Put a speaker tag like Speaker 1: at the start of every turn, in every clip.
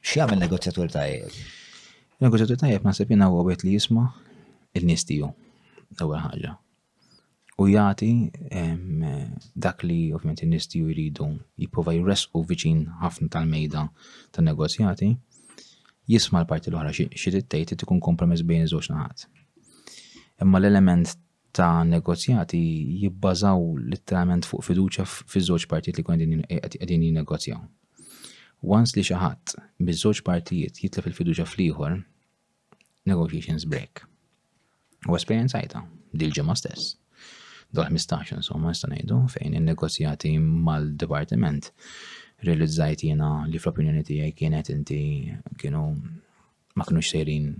Speaker 1: X'jagħmel negozjatur tajjeb? Negozjatur
Speaker 2: tajjeb naħseb jiena huwa wieħed li jisma' il-nies tiegħu l-ewwel ħaġa. U jagħti dak li ovvjament in-nies tiegħu jridu jipprova jresqu viċin ħafna tal-mejda tan-negozjati, jisma' l-parti l-oħra xi tgħid ikun kompromess bejn iż-żewġ naħat. Imma l-element ta' negozjati jibbażaw litteralment fuq fiduċja fiż-żewġ partijiet li jkunu qegħdin jinnegozjaw. Once li xi ħadd miż-żewġ partijiet jitlef il-fiduċja fl-ieħor, negotiations break. U esperjenzajta dil-ġimgħa stess. Dal-15 insomma nista' ngħidu fejn in-negozjati mal-dipartiment realizzajt jiena li fl-opinjoni tiegħi kienet inti kienu ma kinux sejrin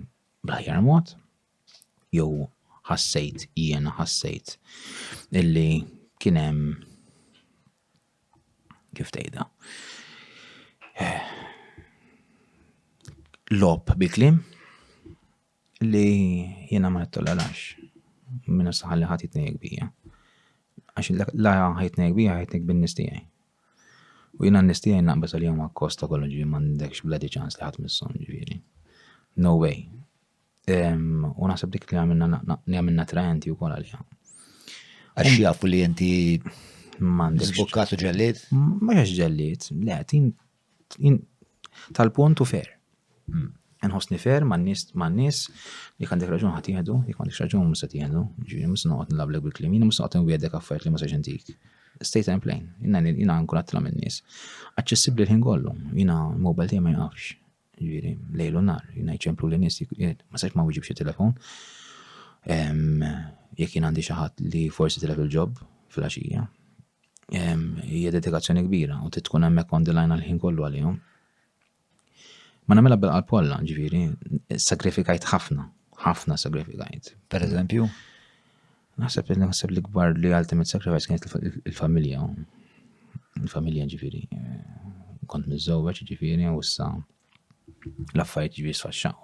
Speaker 2: bl-aħjar mod jew ħassejt jiena ħassejt illi kien hemm kif tgħidha lob bi kliem li jiena ma nittolerax minna saħalli ħadd jitnejjek bija. Għax la ħajtnejjek bija ħajtnejjek bin-nies tiegħi. U jiena n-nies tiegħi naqbeż għalihom għakkost ta' kollox ġifieri m'għandekx bla ċans li ħadd misshom ġifieri. No way. U naħseb dik li għamilna trajenti u kol għalija. Għax
Speaker 1: jafu li jenti mandik.
Speaker 2: Zbukkatu ġellit?
Speaker 1: Mux ġellit,
Speaker 2: le, tin tal-punt u fer. Hmm. Nħosni fer ma' nis, ma' nis, li għandek raġun ħat jihdu, li għandek raġun musa tihdu, ġiri musa noqot nlableg bil-klim, jina musa noqot nwiedek affert li musa ġentik. Stay time plain, jina jina nkun għattila minn nis. Aċċessibli l-ħin kollu, jina mobile tiegħi ma jgħafx. jiġifieri lejl u nhar, jien ċemplu li nies ma sax ma wieġibx it-telefon. Jekk jien għandi xi ħadd li forsi tilef il-ġob fil-għaxija, hija dedikazzjoni kbira u tkun hemmhekk on the line għal-ħin kollu għalihom. Ma nagħmilha bil-qalb kollha, ġifieri, sagrifikajt ħafna, ħafna sagrifikajt. Per eżempju? Naħseb li naħseb li kbar li ultimate sacrifice kienet il-familja. Il-familja ġifiri. Kont mizzowġ ġifiri u issa l-affarijiet ġifiri sfaxxaw.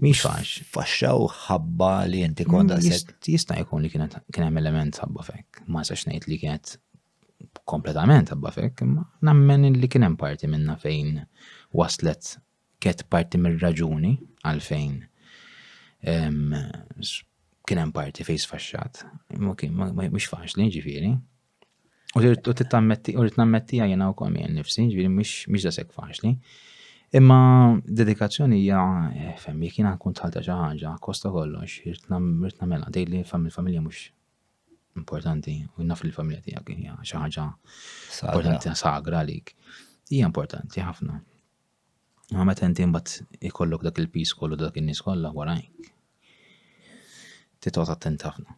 Speaker 2: Miex fax. Faxxaw ħabba
Speaker 1: li inti kont għaset. Jista' jkun li
Speaker 2: kienet kien hemm element ħabba fek. Ma sax ngħid li kienet kompletament ħabba fek, imma nammen li kien hemm parti minna fejn waslet Kienet parti mir-raġuni għalfejn kien hemm parti fejn sfaxxat. Imma kien mhux faċli, ġifieri. U rrid tittammetti, u rrid nammettija jiena wkoll minn nifsi, ġifieri mhux dasek faċli. Imma dedikazzjoni hija eh, femmi, kien nkun tħalta xi ħaġa, kosta kollox, rrid nagħmilha, tgħidli familja mhux importanti, u naf li familja tiegħek hija xi ħaġa importanti sagra għalik. Hija importanti ħafna. Imma meta inti mbagħad ikollok dak il-piż kollu dak in-nies kollha warajk. Titgħod attent ħafna.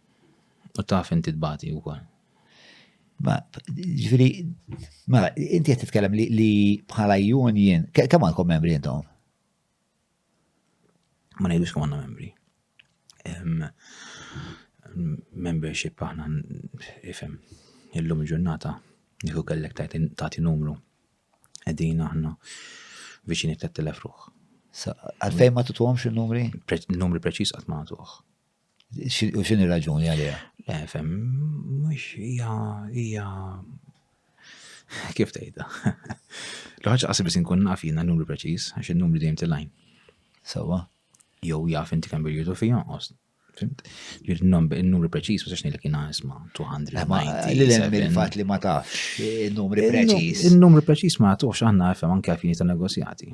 Speaker 2: U taf inti tbati wkoll. Ma,
Speaker 1: ġviri, ma, inti qed titkellem li, li bħala union, kemm għandkom membri intom?
Speaker 2: Ma ngħidux kemm għandna membri. membership aħna ifhem illum ġurnata nieħu kellek tagħti numru Qegħdin aħna viċini 3000 ruħ. Għalfejn
Speaker 1: ma tutuhomx in-numri? Numri preċiż qatt
Speaker 2: ma tuħ.
Speaker 1: U xin ir-raġuni għalija? Le, fem,
Speaker 2: mux hija hija kif tgħidha. L-ħaġa qasib biss inkun naf jiena numru preċiż għax in-numru dejjem tilajn. Sawa.
Speaker 1: Jew
Speaker 2: jaf inti kemm bil-jutu fija, Fimt? Ġir n-numri preċis, ma sax nilek jina isma 290. Li l-hemm il-fat li
Speaker 1: ma tafx il-numri preċis. Il-numri preċis ma tafx
Speaker 2: għanna FM anke għafini ta' negozjati.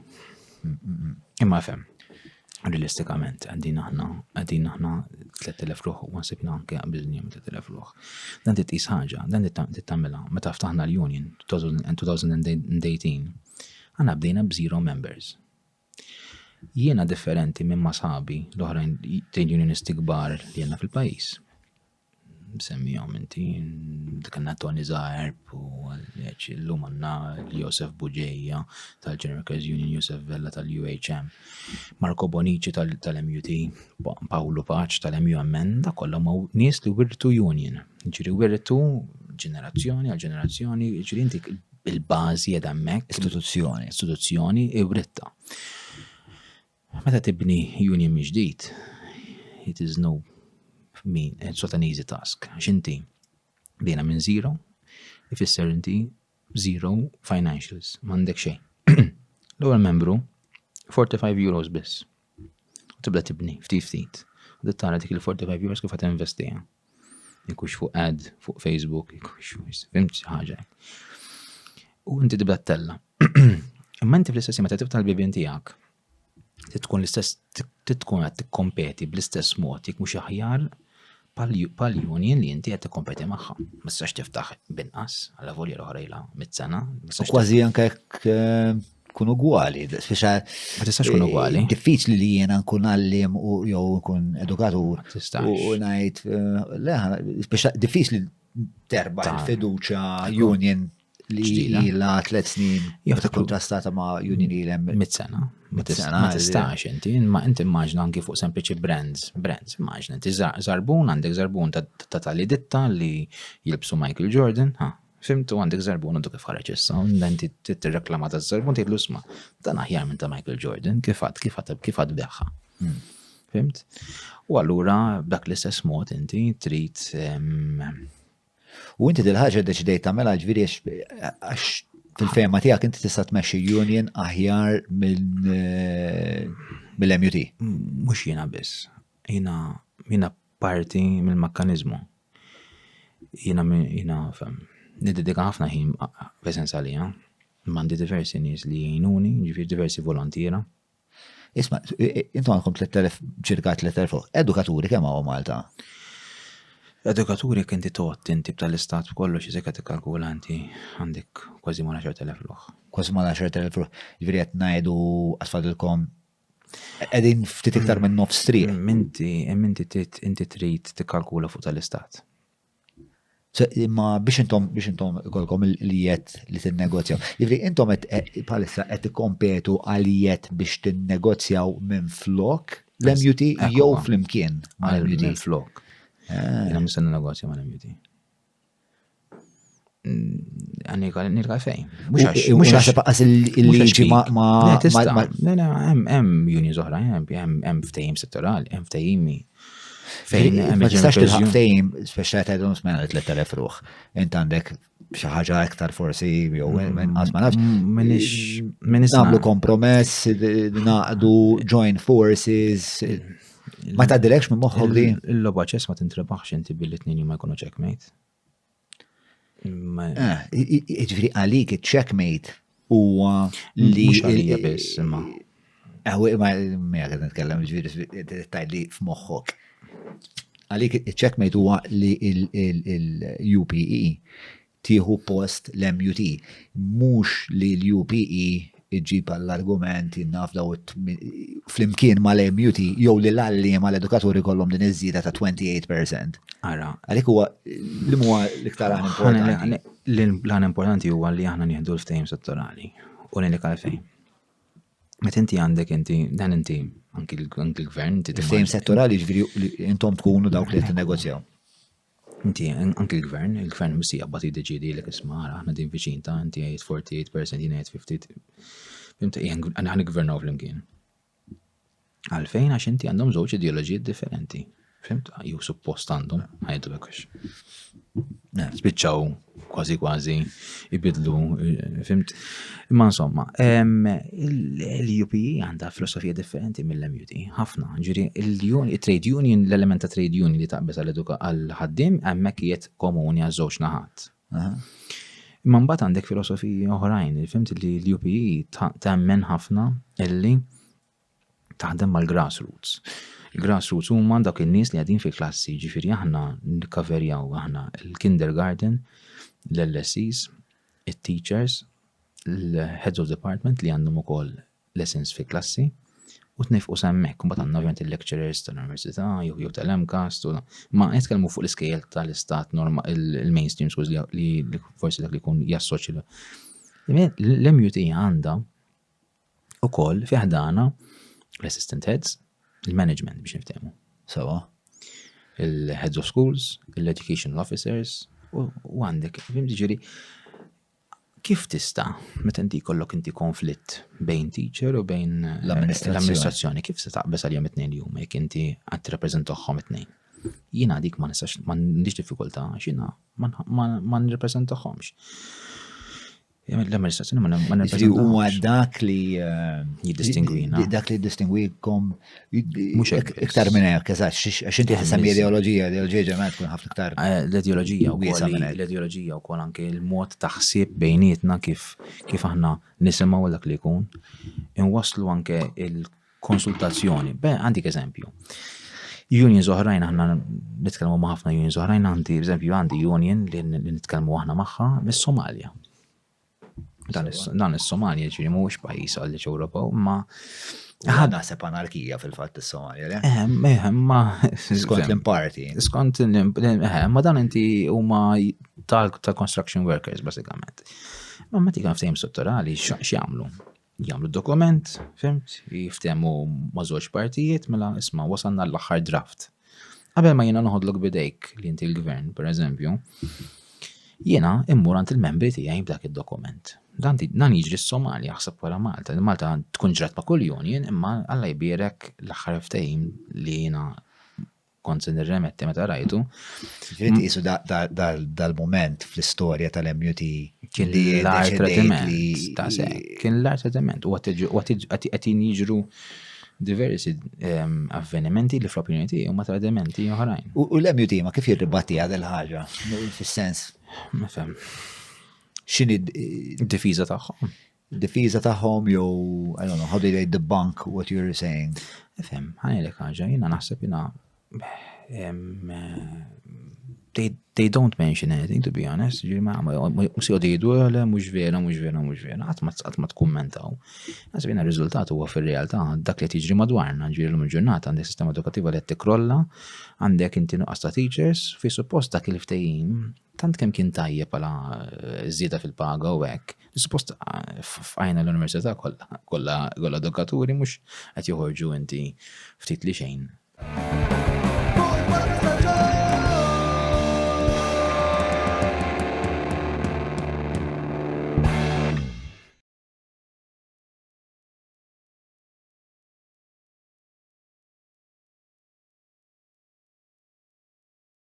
Speaker 2: Imma FM, realistikament, għaddin aħna, għaddin aħna 3000 ruħ, u għasibna anke għabżin jem 3000 ruħ. Dan dit isħagġa, dan dit tammela, ma taftaħna l-Union 2018, għanna bdejna b-zero members. Jiena differenti minn ma' sħabi l-oħrajn trade unionisti kbar li għandna fil-pajjiż. Semmihom inti, dik għandna Tony Zaerb u llum għandna Josef Bugeja tal-General Workers Union, Josef Vella tal-UHM, Marco Bonnici tal-MUT, Pawlu Paċ tal-MUMN, da kollha ma' nies li wirtu union. Ġiri wirtu ġenerazzjoni għal ġenerazzjoni, ġiri inti bil-bażi qiegħda hemmhekk. Istituzzjoni. Istituzzjoni iwritta. Meta tibni union miġdid, it is no min, it's not an easy task. Xinti, bina minn zero, ifisser inti zero financials, mandek xejn. L-ewwel membru 45 euros biss. U tibda tibni, ftit ftit. U tara dik il-45 euros kif għat investija. Jekux fuq ad, fuq Facebook, jekux fuq, fimx ħaġa. U inti tibda t-tella. Imma inti fl-istess ma tibda l-bibin tijak. Titkun l-istess, titkun għat t-kompeti bl-istess mod, jek mux aħjar pal-union li inti qed tikkompeti magħha. Ma tistax tiftaħ binqas għal volja l-oħra ilha mit-sena. Kważi anke jekk
Speaker 1: eh, kun ugwali. Ma tistax
Speaker 2: kun eh, ugwali. Diffiċli li jiena
Speaker 1: nkun għallim u jew nkun edukatur. U ngħid eh, diffiċli terba' il-fiduċa union li la tlet snin jieħdu kontrastata ma' Union Ilem. Mit-sena. Ma
Speaker 2: tistax inti, ma inti immaġna anki fuq sempliċi brands, brands, immaġna inti zarbun, għandek zarbun ta' tali ditta li jilbsu Michael Jordan, ha, fimtu għandek zarbun għandu kif ħareġ issa, inti t-reklama ta' zarbun tgħidlu sma, dan aħjar minn ta' Michael Jordan, kif għad, kif għad, kif għad beħħa. Hmm. Fimt? U allura b'dak l-istess mod inti trid ehm,
Speaker 1: U inti dil-ħaġa deċidejt tagħmel ġifieri għax fil-fehma tiegħek inti tista' tmexxi union aħjar eh, mill-MUT. Mhux jiena
Speaker 2: biss. Jiena jiena parti mill-mekkaniżmu. Jiena jiena fem. Nidedika ħafna ħin f'esens għalija. Mandi diversi nies li jgħinuni, ġifieri diversi volontiera. Isma,
Speaker 1: intom għandkom 3000, ċirka 3000, edukaturi kemm għaw Malta?
Speaker 2: Edukaturi kinti tot inti tal-istat kollox iżek għati kalkulanti għandek kważi ma 10.000 luħ. Kważi ma 10.000 luħ. Ġviri għet najdu
Speaker 1: għasfadilkom għedin ftit iktar minn nof stri. Minti, minti
Speaker 2: inti trit t-kalkula fuq tal-istat.
Speaker 1: Imma biex intom biex intom ikolkom il-jiet li tinnegozjaw. Jifri, intom palissa qed tikkompetu għal jiet biex tinnegozjaw minn flok l-MUT jew flimkien mal-MUT. Minn flok.
Speaker 2: Jena musen negozja mal-MUT. Għannika, nirka fejn. Mux għasib
Speaker 1: għas il-liġi ma. Mela,
Speaker 2: hemm unions oħra, hemm ftejim settorali, hemm ftejimi. Fejn, ma tistax tilħaq
Speaker 1: ftejim, speċa għedhom smena 3000 ruħ. Int għandek xaħġa iktar forsi, jew minn għazma nafx. Minix. Minix. Namlu kompromess, naqdu join forces. Ma ta' direkx minn moħħok di. Il-loba ċess ma tintrebaħx
Speaker 2: inti billi t-nini ma jkunu ċekmejt. Ah,
Speaker 1: ġifri għalik il-checkmate huwa li. Mux għalija biss,
Speaker 2: imma. Għawi, ma
Speaker 1: mija għed nitkellem ġifiri tajt li f'moħħok. Għalik il-checkmate huwa li l-UPE tieħu post l-MUT. Mux li l-UPE iġġib għall-argument jien naf daw flimkien mal-MUT jew li l-għalliema l-edukaturi kollhom din iż-żieda ta' 28%. Ara. Għalik
Speaker 2: huwa
Speaker 1: li huwa l-iktar għan importanti. L-għan
Speaker 2: importanti huwa li aħna nieħdu l-ftehim settorali u ngħidlek għalfejn. Meta inti għandek inti dan inti anki l-gvern inti ftehim settorali
Speaker 1: ġifieri intom tkunu dawk li qed negozjaw. Inti,
Speaker 2: anki l-gvern, il-gvern missi jaqbad jiddeċidi l isma għara, ħna din viċin ta' inti għajt 48% jina għajt 50. Fimta, għana għan gvernaw fl-imkien. Għalfejn għax inti għandhom żewġ ideoloġijiet differenti. Fimt, ju suppost għandhom, għajdu bekux. Spiċċaw kważi kważi ibidlu, fimt. Imma insomma, l-UP għandha filosofija differenti mill-MUT, ħafna. Ġiri, il-trade union, l-element ta' trade union li taqbeż għal-ħaddim, għemmek jiet komuni għaż-żewġ naħat. Imma mbagħad għandek filosofiji oħrajn, fimt li l-UP temmen ħafna illi taħdem mal-grassroots. Il-grassroots huma dak in-nies li qegħdin fil-klassi, ġifieri aħna nikkaverjaw aħna l-kindergarten, l-LSEs, it-teachers, l-heads of department li għandhom ukoll lessons fi klassi u tnifqu semmek, mbagħad għandna ovvjament il-lecturers tal-università jew jew tal-MCAST u ma qed kellmu fuq l-iskejjel tal-istat norma il-mainstream schools li forsi dak li jkun jassoċi. L-MUT għandha ukoll fi ħdana l-assistant heads, il-management biex niftehmu. Sawa, il-heads of schools, il-educational officers, u għandek, fim ġiri, kif tista, meta inti kollok inti konflitt bejn teacher u bejn eh, l-amministrazzjoni, kif se taqbes għal-jom it-tnejn li huma jek inti għad reprezentaħħom it-tnejn? Jina dik ma nistax, ma nix diffikulta, xina ma nirreprezentaħħomx. L-amministrazzjoni ma nirrappreżentax. Huwa
Speaker 1: dak
Speaker 2: li
Speaker 1: eh, jiddistingwina.
Speaker 2: Dak li
Speaker 1: jiddistingwikom mhux
Speaker 2: iktar minn hekk, eżatt,
Speaker 1: għax inti ħisem l-ideoloġija, l-ideoloġija ġeneralment tkun ħafna iktar. Eh, l-ideoloġija
Speaker 2: wkoll
Speaker 1: l-ideoloġija wkoll anke
Speaker 2: l-mod ta' ħsieb bejnietna kif kif aħna nisimgħu dak li jkun. Inwasslu anke il konsultazzjoni. Beh, għandik eżempju. Unions oħrajn aħna nitkellmu ma' ħafna unions oħrajn għandi eżempju għandi union li nitkellmu aħna magħha mis-Somalja. Dan is-Somalja ġifieri mhuwiex pajjiż għal Ewropew, ma ħadha sepp
Speaker 1: anarkija fil-fatt is-Somalja, le? Ehm, ehm, ma
Speaker 2: skont l-imparti.
Speaker 1: Skont
Speaker 2: l-imparti, ehm, ma dan inti huma tal-construction workers basikament. Ma ma tikan ftehim strutturali x'jagħmlu? Jagħmlu dokument, fimt, jiftehmu ma' żewġ partijiet, mela isma' wasalna l-aħħar draft. Qabel ma jiena noħodlok bidejk li inti l-gvern, pereżempju, jiena immur għand il-membri tiegħi b'dak id-dokument. Dan dan jiġri s-Somalja ħseb wara Malta. Malta tkun ġrat ma' kull union imma Alla jbierek l-aħħar ftehim li jiena kont se nirremetti meta rajtu. Ġiet isu
Speaker 1: dal-moment fl-istorja tal-MUT kien li
Speaker 2: l-art tradiment. Kien l-art tradiment. U għatin jiġru diversi ehm, avvenimenti li fl-opinjoni tiegħi huma tradimenti oħrajn. U l-MUT ma kif
Speaker 1: jirribatti għad il-ħaġa, fis-sens. Ma fem. X'inhi d-difiża
Speaker 2: tagħhom? difiża tagħhom
Speaker 1: jew I don't know how do they debunk what you're saying. Efhem, ħanilek
Speaker 2: ħaġa, jiena naħseb jiena they, they don't mention anything to be honest, ġiri ma mux jodi jidu għale, mux vera, mux vera, mux vera, għat ma t-kommentaw. Għazbina il-rizultat huwa fil-realtà dak li tiġri madwarna, ġiri l-lum ġurnata għandek sistema edukativa li t-krolla, għandek inti nuqqas ta' teachers, fi suppost dak il-ftejim Tant kemm kien tajjeb għala żieda fil-paga u hekk, li suppost f'għajna l-università kollha kollha dukaturi mhux qed joħorġu inti ftit li xejn.